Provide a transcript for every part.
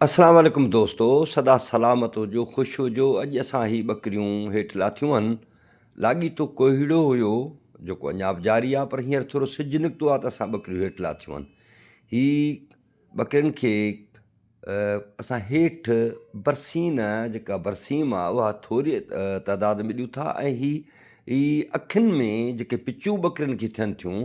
السلام عليڪم دوستو سدا سلامت هجو خوش هجو اڄ اسان هي ٻڪريون هيٺ لاٿيون هن لاڳيتو ڪوهيڙو هيو جيڪو اڃا به جاري آ پر هينئر ٿورو سج نڪتو آ ته اسان ٻڪريون هيٺ لاٿيون هن هي ٻڪرين کي اسان هيٺ برسين جيڪا برسيم آ اها ٿوري تعداد ۾ ڏيون ٿا ۽ هي اکين ۾ جيڪي پچيون ٻڪرين کي ٿين ٿيون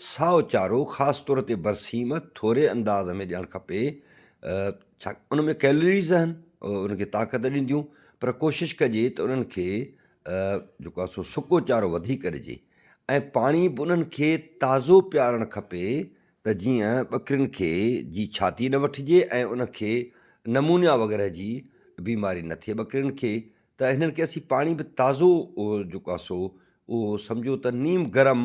سائو چارو خاص طور تي برسيم ٿوري انداز ۾ ڏيڻ کپي ڇا ان ۾ ڪيلريز آهن ان کي طاقت ڏينديون پر ڪوشش ڪجي ته انهن کي جيڪو آهي سو سڪو چارو وڌيڪ ڏجي ۽ پاڻي به انهن کي تازو پيارڻ کپي ته جيئن ٻڪرين کي جي ڇاتي نه وٺجي ۽ ان کي نمونيا وغيره جي بيماري نه ٿئي ٻڪرين کي ته هنن کي اسين پاڻي به تازو جيڪو آهي سو اهو سمجهو ته نيم گرم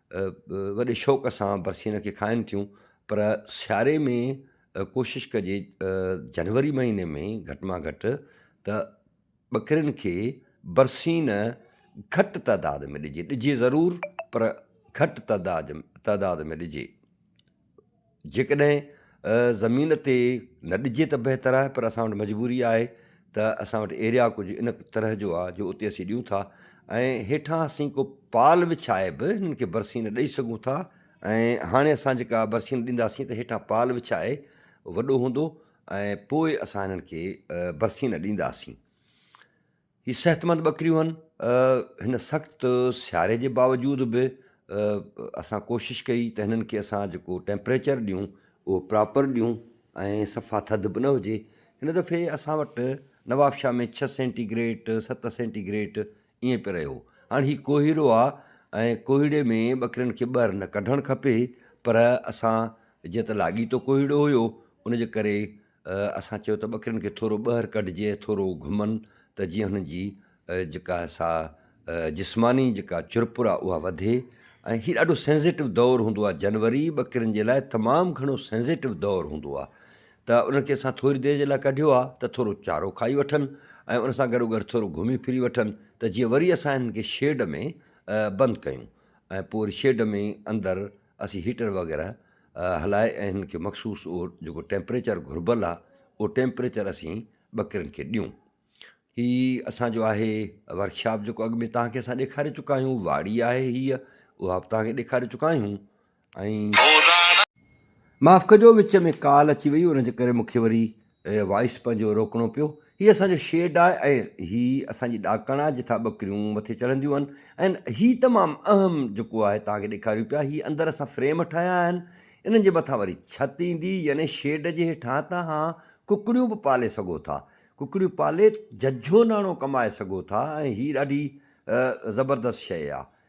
وڏي شوق سان برسين کي کائن ٿيون پر سياري ۾ ڪوشش ڪجي جنوري مهيني ۾ گهٽ مان گهٽ ته ٻڪرين کي برسين گهٽ تعداد ۾ ڏجي ڏجي ضرور پر گهٽ تعداد تعداد ۾ ڏجي جيڪڏهن زمين تي نه ڏجي ته بهتر آهي پر اسان وٽ مجبوري آهي ته اسان وٽ ايريا ڪجهه ان طرح جو آهي جو اتي اسين ڏيون ٿا ۽ هيٺان اسين ڪو پال وڇائي به هنن کي برسين ڏئي سگهون ٿا ۽ هاڻي اسان جيڪا برسين ڏينداسين ته هيٺان پال وڇائي وڏو هوندو ۽ پوء اسان هنن کي برسين ڏينداسين هي صحتمند ٻڪريون هن. هن سخت سياري جي باوجود به اسان ڪوشش ڪئي ته هنن کي اسان جيڪو ٽيمپريچر ڏيون اهو پراپر ڏيون ۽ صفا ٿڌ به نه هجي. هن دفعي اسان وٽ نوابشاهه ۾ ڇهه سينٽي گريٽ ست سينٽي گريٽ ائين پئي رهيو. هاڻي هي ڪوهيڙو آ ۽ ڪوهيڙي ۾ ٻڪرين کي ٻهر نه ڪڍڻ کپي پر اسان جيئن ته لاڳيتو ڪوهيڙو هيو ان جي ڪري اسان چيو ته ٻڪرين کي ٿورو ٻهر ڪڍجي ۽ ٿورو گهمن ته جيئن هنن جي جيڪا سا جسماني جيڪا چرپر آهي اها وڌي ۽ هي ڏاڍو سينزيٽو دور هوندو آهي جنوري ٻڪرين جي لاء تمام گهڻو سينزيٽو دور هوندو آهي ته انهن کي اسان ٿوري دير جي لاء ڪڍيو آهي ته ٿورو چارو کائي وٺن ۽ ان سان گڏو گڏ ٿورو گهمي ڦري وٺن ته جيئن وري اسان هنن کي شيڊ ۾ بند ڪيون ۽ پوء وري شيڊ ۾ اندر اسين هيٽر وغيره هلائي ۽ هنن کي مخصوص اهو جيڪو ٽيمپريچر گهربل آهي اهو ٽيمپريچر اسين ٻڪرين کي ڏيون هي اسان جو آهي ورڪشاپ جيڪو اڳ ۾ تهان کي اسان ڏيکاري چڪا آهيون واڙي آهي هيء اها به تهان کي ڏيکاري چڪا آهيون ۽ معاف ڪجو وچ ۾ ڪال اچي وئي ان جي ڪري مون کي وري وائس پنهنجو روڪڻو پيو. هي اسان جو شيڊ آهي ۽ هي اسان جي ڏاڪڻ آهي جتان ٻڪريون مٿي چڙهنديون آهن ۽ هي تمام اهم جيڪو آهي توهان کي ڏيکاريون پيا هي اندر اسان فريم ٺاهيا آهن انهن جي مٿان وري ڇت ايندي يعني شيڊ جي هيٺان تهان ڪڪڙيون به پالي سگهو ٿا ڪڪڙيون پالي ججهو ناڻو ڪمائي سگهو ٿا ۽ هي ڏاڍي زبردست شيء آهي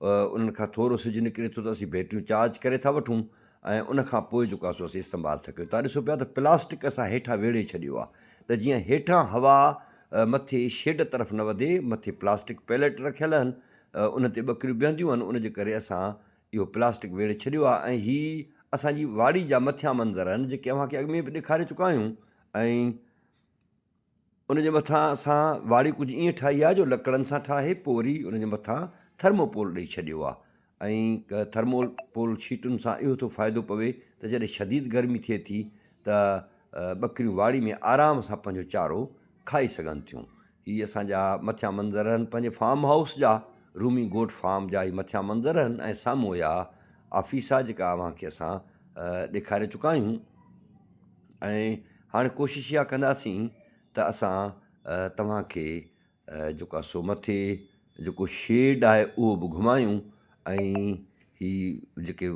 انهن کان ٿورو سج نڪري ٿو ته اسين بيٽريون چارج ڪري ٿا وٺون ۽ ان کان پوء جيڪو آهي سو اسين استعمال ٿا ڪيون. توهان ڏسو پيا ته پلاسٽڪ اسان هيٺان ويڙهي ڇڏيو آهي ته جيئن هيٺان هوا مٿي شيڊ طرف نه وڌي، مٿي پلاسٽڪ پيليٽ رکيل آهن ان تي ٻڪريون بيهنديون آهن ان جي ڪري اسان اهو پلاسٽڪ ويڙهي ڇڏيو آهي ۽ هي اسان جي واڙي جا مٿيان منظر آهن جيڪي اوهان کي اڳ ۾ به ڏيکاري چڪا آهيون ۽ ان جي مٿان اسان واڙي ڪجهه ائين ٺاهي آهي جو لڪڙن سان ٺاهي پوء وري ان جي مٿان ٿرموپول ڏئي ڇڏيو آهي ۽ ٿرموپول شيٽن سان اهو ٿو فائدو پوي ته جڏهن شديد گرمي ٿئي ٿي ته ٻڪريون واڙي ۾ آرام سان پنهنجو چارو کائي سگهن ٿيون هي اسان جا مٿيان منظر آهن پنهنجي فارم هائوس جا رومي گوٽ فارم جا هي مٿيان منظر آهن ۽ سامهون اها آفيس آهي جيڪا اوهان کي اسان ڏيکاري چڪا آهيون ۽ هاڻي ڪوشش اها ڪنداسين ته اسان توهان کي جيڪو آهي سو مٿي جيڪو شيڊ آهي اهو به گهمايون ۽ هي جيڪي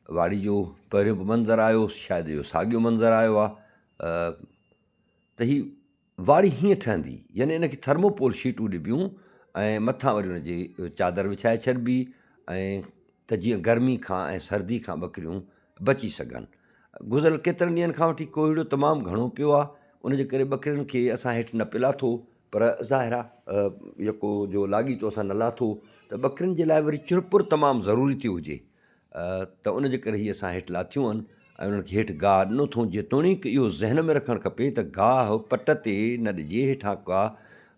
واڙي جو پهريون به منظر آيو شايد اهو ساڳيو منظر آيو آهي ته هي واڙي هيئن ٺهندي يعني ان کي ٿرموپول شيٽون ڏبيون ۽ مٿان وري ان جي چادر وڇائي ڇڏبي ۽ ته جيئن گرمي کان ۽ سردي کان ٻڪريون بچي سگهن. گذريل ڪيترن ڏينهن کان وٺي ڪوهيڙو تمام گهڻو پيو آهي ان جي ڪري ٻڪرين کي اسان هيٺ نه پئي لاٿو پر ظاهر آهي يڪو جو لاڳيتو اسان نه لاٿو ته ٻڪرين جي لاء وري چرپر تمام ضروري ٿيو هجي ته ان جي ڪري هي اسان هيٺ لاٿيون آهن ۽ انهن کي هيٺ گاهه ڏنو اٿئون، جيتوڻيڪ اهو ذهن ۾ رکڻ کپي ته گاهه پٽ تي نه ڏجي، هيٺان ڪا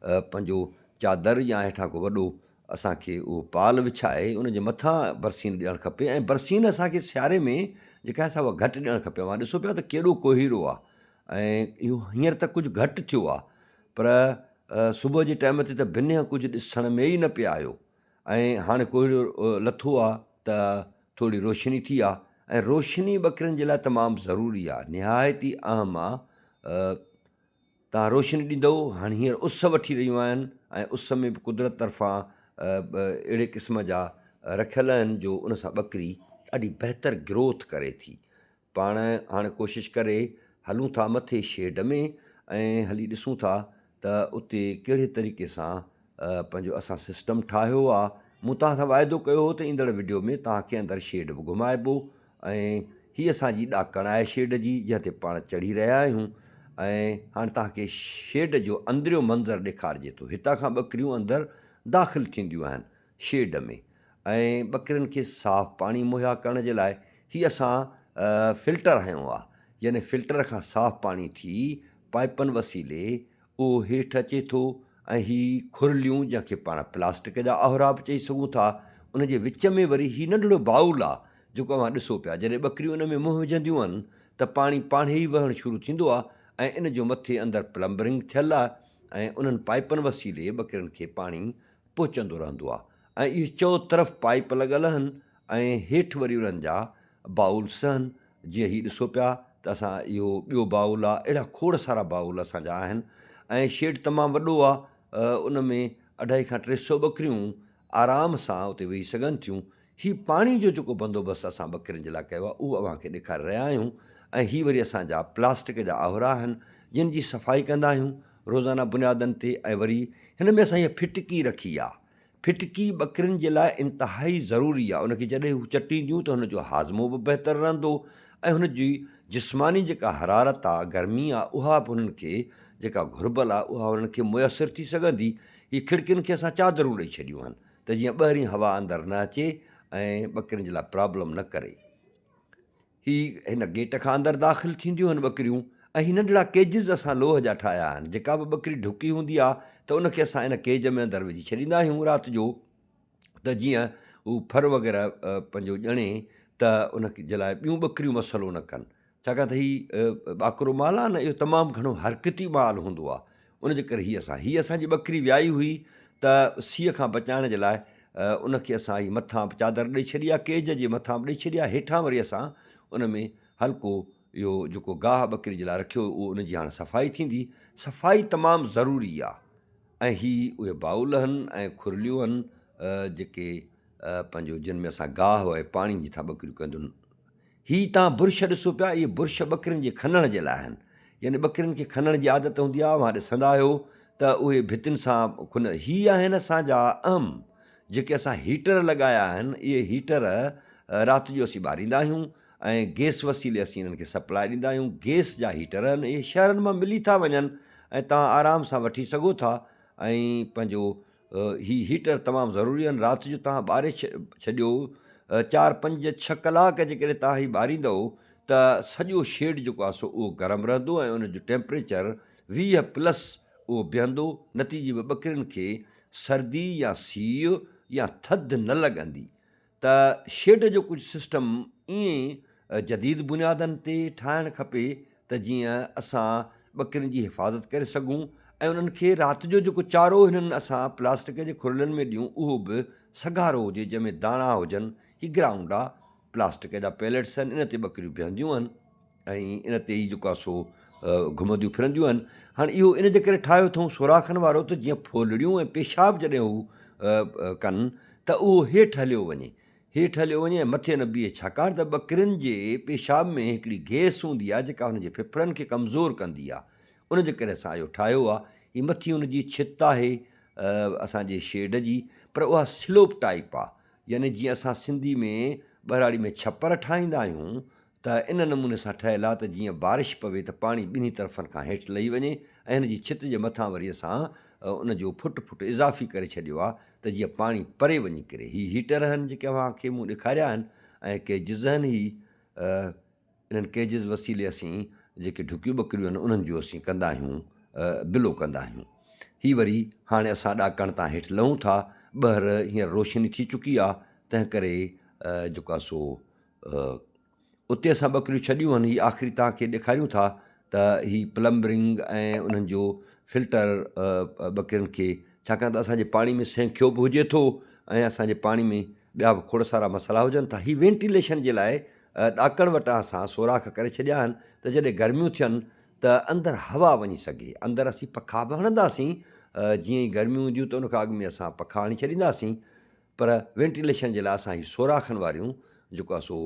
پنهنجو چادر يا هيٺان ڪو وڏو اسان کي اهو پال وڇائي ان جي مٿان برسين ڏيڻ کپي ۽ برسين اسان کي سياري ۾ جيڪا آهي سا اها گهٽ ڏيڻ کپي، اوهان ڏسو پيا ته ڪيڏو ڪوهيرو آهي ۽ اهو هينئر ته ڪجهه گهٽ ٿيو آهي پر صبح جي ٽائيم تي ته بنهه ڪجهه ڏسڻ ۾ ئي نه پئي آيو ۽ هاڻي ڪوهيڙو لٿو آ ته ٿوري روشني ٿي آ ۽ روشني ٻڪرين جي لاء تمام ضروري آ نهايت ئي اهم آ تان روشني ڏيندو هاڻي هينئر اس وٺي رهيون آهن ۽ اس ۾ به قدرت طرفان اهڙي قسم جا رکيل آهن جو ان سان ٻڪري ڏاڍي بهتر گروٿ ڪري ٿي پاڻ هاڻ ڪوشش ڪري هلون ٿا مٿي شيڊ ۾ ۽ هلي ڏسون ٿا ته اتي ڪهڙي طريقي سان پنهنجو اسان سسٽم ٺاهيو آ مون توهان سان واعدو ڪيو هو ته ايندڙ وڊيو ۾ توهان کي اندر شيڊ به گهمائبو ۽ هي اسان جي ڏاڪڻ آهي شيڊ جي جنهن تي پاڻ چڙهي رهيا آهيون ۽ هاڻ توهان کي شيڊ جو اندريون منظر ڏيکارجي ٿو هتان کان ٻڪريون اندر داخل ٿينديون آهن شيڊ ۾ ۽ ٻڪرين کي صاف پاڻي مهيا ڪرڻ جي لاء هي اسان فلٽر هنيو آهي يعني فلٽر کان صاف پاڻي ٿي پائپن وسيلي اهو هيٺ اچي ٿو ۽ هي کرليون جنهن کي پاڻ پلاسٽڪ جا آهرا به چئي سگهون ٿا ان جي وچ ۾ وري هي ننڍڙو بائول آهي جيڪو اوهان ڏسو پيا جڏهن ٻڪريون ان ۾ منهن وجهنديون آهن ته پاڻي پاڻهي ئي وهڻ شروع ٿيندو آهي ۽ ان جو مٿي اندر پلمبرنگ ٿيل آهي ۽ انهن پائپن وسيلي ٻڪرين کي پاڻي پهچندو رهندو آهي ۽ اهي چئو طرف پائيپ لڳل هن ۽ هيٺ وري انهن جا باؤلس هن جيئن هي ڏسو پيا ته اسان اهو ٻيو باؤل آهي اهڙا کوڙ سارا باؤل اسان جا آهن ۽ شيڊ تمام وڏو آهي ان ۾ اڍائي کان ٽي سئو ٻڪريون آرام سان اتي ويهي سگهن ٿيون هي پاڻي جو جيڪو بندوبست اسان ٻڪرين جي لاء ڪيو آهي اهو اوهان کي ڏيکاري رهيا آهيون ۽ هي وري اسان جا پلاسٽڪ جا آهورا آهن جن جي صفائي ڪندا آهيون روزانه بنيادن تي ۽ وري هن ۾ اسان هيء ڦٽڪي رکي آهي ڦٽڪي ٻڪرين جي لاء انتهائي ضروري آهي ان کي جڏهن هو چٽينديون ته هن جو هاضمو به بهتر رهندو ۽ هن جي جسماني جيڪا حرارت آهي گرمي آهي اها به هنن کي جيڪا گهربل آهي اها هنن کي ميسر ٿي سگهندي هي کڙڪين کي اسان چادرون ڏئي ڇڏيون آهن ته جيئن ٻاهرين هوا اندر نه اچي ۽ ٻڪرين جي لاء پرابلم نه ڪري هي هن گيٽ کان اندر داخل ٿينديون آهن ٻڪريون ۽ هي ننڍڙا ڪيجز اسان لوهه جا ٺاهيا آهن جيڪا به ٻڪري ڍڪي هوندي آهي ته ان کي اسان ان ڪيج ۾ اندر وجهي ڇڏيندا آهيون رات جو ته جيئن هو ڦر وغيره پنهنجو ڄڻي ته ان جي لاء ٻيون ٻڪريون مسئلو نه ڪن ڇاڪاڻ ته هي ٻاڪرو مال آهي نه اهو تمام گهڻو حرڪتي مال هوندو آهي ان جي ڪري هي اسان هي اسان جي ٻڪري ويائي هئي ته سيء کان بچائڻ جي لاء ان کي اسان هي مٿان به چادر ڏئي ڇڏي آهي ڪيج جي مٿان به ڏئي ڇڏي آهي هيٺان وري اسان ان ۾ هلڪو اهو جيڪو گاهه ٻڪري جي لاء رکيو اهو ان جي هاڻ صفائي ٿيندي صفائي تمام ضروري آهي ۽ هي اهي باول هن ۽ کورليون هن جيڪي پنهنجو جن ۾ اسان گاهه ۽ پاڻي جي ٿا ٻڪريون ڪنديون هي تان برش ڏسو پيا، اهي برش ٻڪرين جي کنڻ جي لاء آهن. يعني ٻڪرين کي کنڻ جي عادت هوندي آهي، اوهان ڏسندا آهيو ته اهي ڀتين سان کن، هي آهن اسان جا اهم جيڪي اسان هيٽر لڳايا آهن، اهي هيٽر رات جو اسين ٻاريندا آهيون ۽ گيس وسيلي اسين انهن کي سپلاء ڏيندا آهيون، گيس جا هيٽر آهن، اهي شهرن مان ملي ٿا وڃن ۽ توهان آرام سان وٺي سگهو ٿا ۽ پنهنجو هي هيٽر تمام ضروري آهن رات جو توهان ٻاري ڇڏيو چار پنج ڇهه ڪلاڪ جيڪڏهن توهان هي ٻاريندو ته سڄو شيڊ جيڪو آهي سو اهو گرم رهندو ۽ ان جو ٽيمپريچر ويهه پلس اهو بيهندو نتيجي ۾ ٻڪرين کي سردي يا سيء يا ٿڌ نه لڳندي ته شيڊ جو ڪجهه سسٽم ائين جديد بنيادن تي ٺاهڻ کپي ته جيئن اسان ٻڪرين جي حفاظت ڪري سگهون ۽ انهن کي رات جو جيڪو چارو هنن اسان پلاسٽڪ جي کرلن ۾ ڏيون اهو به سگهارو هجي جنهن ۾ داڻا هجن هي گرائونڊ آ پلاسٽڪ جا پيلٽس آهن ان تي ٻڪريون بيهنديون آهن. ۽ ان تي ئي جيڪا سو گهمنديون ڦرنديون آهن. هاڻ اهو ان جي ڪري ٺاهيو اٿئون سوراخن وارو ته جيئن ڦولڙيون ۽ پيشاب جڏهن هو ڪن ته اهو هيٺ هليو وڃي. هيٺ هليو وڃي ۽ مٿي نه بيهي ڇاڪاڻ ته ٻڪرين جي پيشاب ۾ هڪڙي گئس هوندي آهي جيڪا هن جي ڦڦڙن کي ڪمزور ڪندي آهي ان جي ڪري اسان اهو ٺاهيو آهي. هي مٿي ان جي ڇت آهي اسان جي شيڊ جي پر اها سلوپ ٽائيپ آهي يعني جيئن اسان سنڌي ۾ ٻهراڙي ۾ ڇپر ٺاهيندا آهيون ته ان نموني سان ٺهيل آهي ته جيئن بارش پوي ته پاڻي ٻنهي طرفن کان هيٺ لهي وڃي ۽ هن جي ڇت جي مٿان وري اسان ان جو فٽ فٽ اضافي ڪري ڇڏيو آهي ته جيئن پاڻي پري وڃي ڪري هي هيٽر هن جيڪي اوهان کي مون ڏيکاريا آهن ۽ ڪي جز هن هي انهن ڪيجز وسيلي اسين جيڪي ڍڪيون ٻڪريون آهن انهن جو اسين ڪندا آهيون بلو ڪندا آهيون هي وري هاڻي اسان ڏاڪڻ تان هيٺ لهون ٿا ٻهر هينئر روشني ٿي چڪي آهي تنهن ڪري جيڪو سو اتي اسان ٻڪريون ڇڏيون آهن هي آخري تان کي ڏيکاريون ٿا ته هي پلمبرنگ ۽ انهن جو فلٽر ٻڪرين کي ڇاڪاڻ ته اسانجي پاڻي ۾ سينکيو به هجي ٿو ۽ اسانجي پاڻي ۾ ٻيا به کوڙ سارا مسئلا هجن ٿا هي وينٽيليشن جي لاء ڏاڪڻ وٽان اسان سوراخ ڪري ڇڏيا آهن ته جڏهن گرميون ٿين ته اندر هوا وڃي سگهي اندر اسين پکا به هڻنداسين جيئن ئي گرميون اينديون ته ان کان اڳ ۾ اسان پکا هڻي ڇڏينداسين پر وينٽيليشن جي لاء اسان هي سوراخن واريون جيڪو آهي سو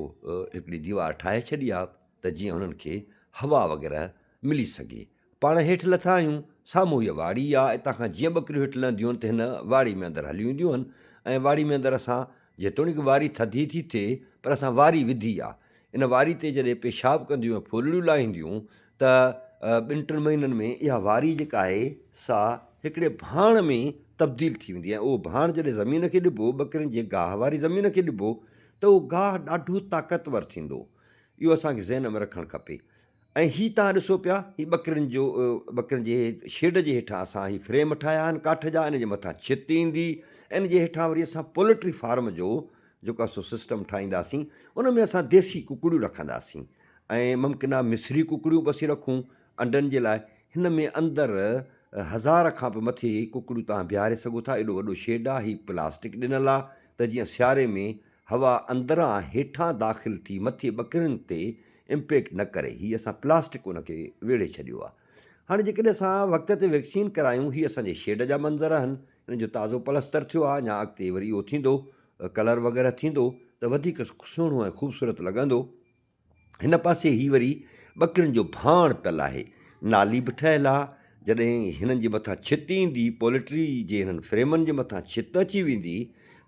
هڪڙي ديوار ٺاهي ڇڏي آهي ته جيئن انهن کي هوا وغيره ملي سگهي. پاڻ هيٺ لٿا آهيون، سامهون هيء واڙي آ، اتان کان جيئن ٻڪريون هيٺ لهنديون آهن ته هن واڙي ۾ اندر هليون اينديون آهن ۽ واڙي ۾ اندر اسان جيتوڻيڪ واري ٿڌي ٿي ٿئي پر اسان واري وڌي آ، ان واري تي جڏهن پيشاب ڪنديون ۽ ڦولڙيون لاهينديون ته ٻن ٽن مهينن ۾ اها واري جيڪا آهي سا هڪڙي ڀاڻ ۾ تبديل ٿي ويندي ۽ اهو ڀاڻ جڏهن زمين کي ڏبو ٻڪرين جي گاهه واري زمين کي ڏبو ته اهو گاهه ڏاڍو طاقتور ٿيندو اهو اسان کي ذهن ۾ رکڻ کپي ۽ هي تان ڏسو پيا هي ٻڪرين جو ٻڪرين جي شيڊ جي هيٺان اسان هي فريم ٺاهيا آهن ڪاٺ جا ان جي مٿان ڇت ايندي ان جي هيٺان وري اسان پولٽري فارم جو جيڪو سو سسٽم ٺاهينداسين ان ۾ اسان ديسي ڪڪڙيون رکنداسين ۽ ممڪنه مصري ڪڪڙيون پسي رکون انڊن جي لاء هن ۾ اندر هزار کان به مٿي ڪڪڙيون توهان بيهاري سگهو ٿا ايڏو وڏو شيڊ آ هي پلاسٽڪ ڏنل آ ته جيئن سياري ۾ هوا اندران هيٺان داخل ٿي مٿي ٻڪرين تي امپيڪٽ نه ڪري هي اسان پلاسٽڪ ان کي ويڙهي ڇڏيو آ هاڻي جيڪڏهن اسان وقت تي ويڪسين ڪرايون هي اسان جي شيڊ جا منظر آهن ان جو تازو پلستر ٿيو آ اڃان اڳتي وري اهو ٿيندو ڪلر وغيره ٿيندو ته وڌيڪ سهڻو ۽ خوبصورت لڳندو هن پاسي هي وري ٻڪرين جو ڀاڻ تل آهي نالي به ٺهيل آ جڏهن هنن جي مٿان ڇت ايندي پولٽري جي هنن فريمن جي مٿان ڇت اچي ويندي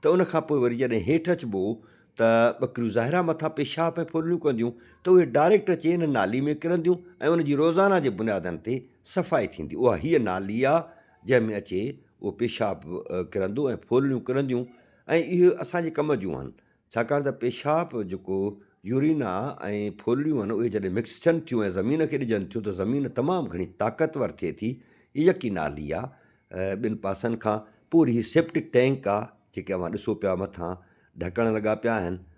ته ان کان پوء وري جڏهن هيٺ اچبو ته ٻڪريون ظاهرا مٿان پيشاب ۽ ڦرليون ڪنديون ته اهي ڊائريڪٽ اچي هن نالي ۾ ڪرنديون ۽ ان جي روزانه جي بنيادن تي صفائي ٿيندي اها هيء نالي آ جنهن ۾ اچي اهو پيشاب ڪرندو ۽ ڦولڙيون ڪرنديون ۽ اهي اسان جي ڪم جون آهن ڇاڪاڻ ته پيشاب جيڪو يورينا ۽ ڦولڙيون آهن اهي جڏهن مڪس ٿين ٿيون ۽ زمين کي ڏجن ٿيون ته زمين تمام گهڻي طاقتور ٿئي ٿي هي يڪي نالي آهي ٻن پاسن کان پوري هي سيپٽڪ ٽينڪ آهي جيڪي اوهان ڏسو پيا مٿان ڍڪڻ لڳا پيا آهن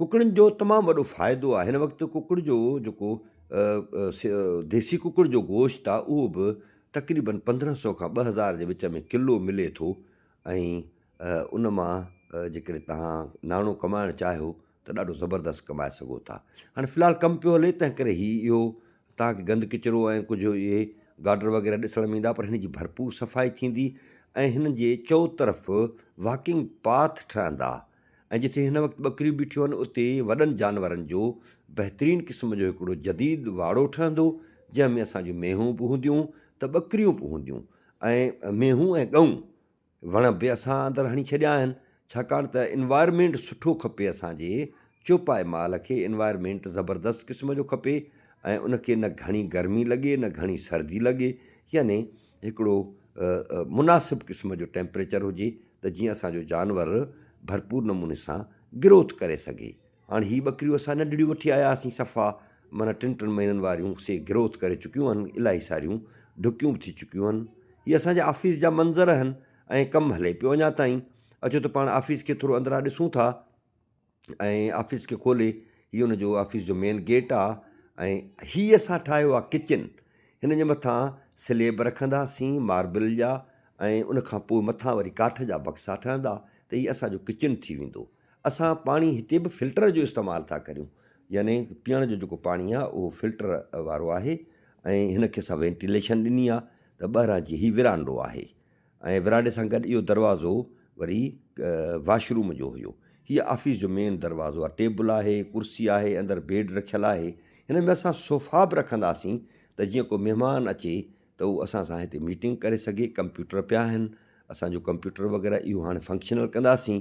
ڪڪڙن جو تمام وڏو فائدو آهي هن وقت ڪڪڙ جو جيڪو ديسي ڪڪڙ جو گوشت آهي اهو به تقريبن پندرهن سو کان ٻه هزار جي وچ ۾ ڪلو ملي ٿو ۽ ان مان جيڪڏهن تهان ناڻو ڪمائڻ چاهيو ته ڏاڍو زبردست ڪمائي سگهو ٿا هاڻي في الحال ڪم پيو هلي تنهن ڪري هي اهو تهانکي گند ڪچرو ۽ ڪجهه اهي گاڊر وغيره ڏسڻ ۾ ايندا پر هن جي ڀرپور صفائي ٿيندي ۽ هن جي چو طرف واڪنگ پاٿ ٺهندا ۽ جتي هن وقت ٻڪريون بيٺيون آهن اتي وڏن جانورن جو بهترين قسم جو هڪڙو جديد واڙو ٺهندو جنهن ۾ اسان جون مينهون به هونديون ته ٻڪريون به هونديون ۽ مينهون ۽ ڳئون وڻ به اسان اندر هڻي ڇڏيا آهن ڇاڪاڻ ته انوائرمينٽ سٺو کپي اسان جي چوپائي مال کي انوائرمينٽ زبردست قسم جو کپي ۽ ان کي نه گهڻي گرمي لڳي نه گهڻي سردي لڳي يعني هڪڙو مناسب قسم جو ٽيمپريچر هجي ته جيئن اسان جو جانور ڀرپور نموني سان گروٿ ڪري سگهي هاڻي هي ٻڪريون اسان ننڍڙيون وٺي آيا هئاسين صفا معنيٰ ٽن ٽن مهينن واريون سي گروٿ ڪري چڪيون آهن الاهي ساريون ڍڪيون به ٿي چڪيون آهن هي اسان جي آفيس جا منظر آهن ۽ ڪم هلي پيو اڃا تائين اچو ته پاڻ آفيس کي ٿورو اندران ڏسون ٿا ۽ آفيس کي کولي هي ان جو آفيس جو مين گيٽ آ ۽ هي اسان ٺاهيو آ ڪچن هن جي مٿان سليب رکنداسين ماربل جا ۽ ان کان پوء مٿان وري ڪاٺ جا بڪسا ٺهندا ته هي اسان جو ڪچن ٿي ويندو اسان پاڻي هتي به فلٽر جو استعمال ٿا ڪريون يعني پيئڻ جو جيڪو پاڻي آ اهو فلٽر وارو آهي ۽ هن کي اسان وينٽيليشن ڏني آ ته ٻاهران جي هي ورانڊو آهي ۽ ورانڊي سان گڏ اهو دروازو وري واش روم جو هيو. هيء آفيس جو مين دروازو آهي. ٽيبل آهي، ڪرسي آهي، اندر بيڊ رکيل آهي. هن ۾ اسان صوفا به رکنداسين ته جيئن ڪو مهمان اچي ته اهو اسان سان هتي ميٽنگ ڪري سگهي. ڪمپيوٽر پيا آهن. اسان جو ڪمپيوٽر وغيره اهو هاڻي فنڪشنل ڪنداسين.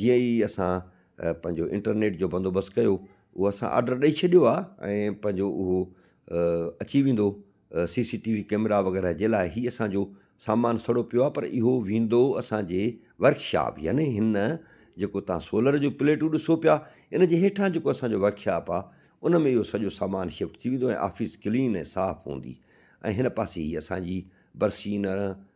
جيئن ئي اسان پنهنجو انٽرنيٽ جو بندوبست ڪيو اهو اسان آرڊر ڏئي ڇڏيو آهي ۽ پنهنجو اهو اچي ويندو. C C T V camera وغيره جي لاء هي اسان جو سامان سڙو پيو آهي پر اهو ويندو اسان جي ورڪشاپ يعني هن جيڪو تان سولر جو پليٽون ڏسو پيا ان جي هيٺان جيڪو اسان جو ورڪشاپ آهي ان ۾ اهو سڄو سامان شفٽ ٿي ويندو ۽ آفيس ڪلين ۽ صاف هوندي ۽ هن پاسي هي اسان جي برسينر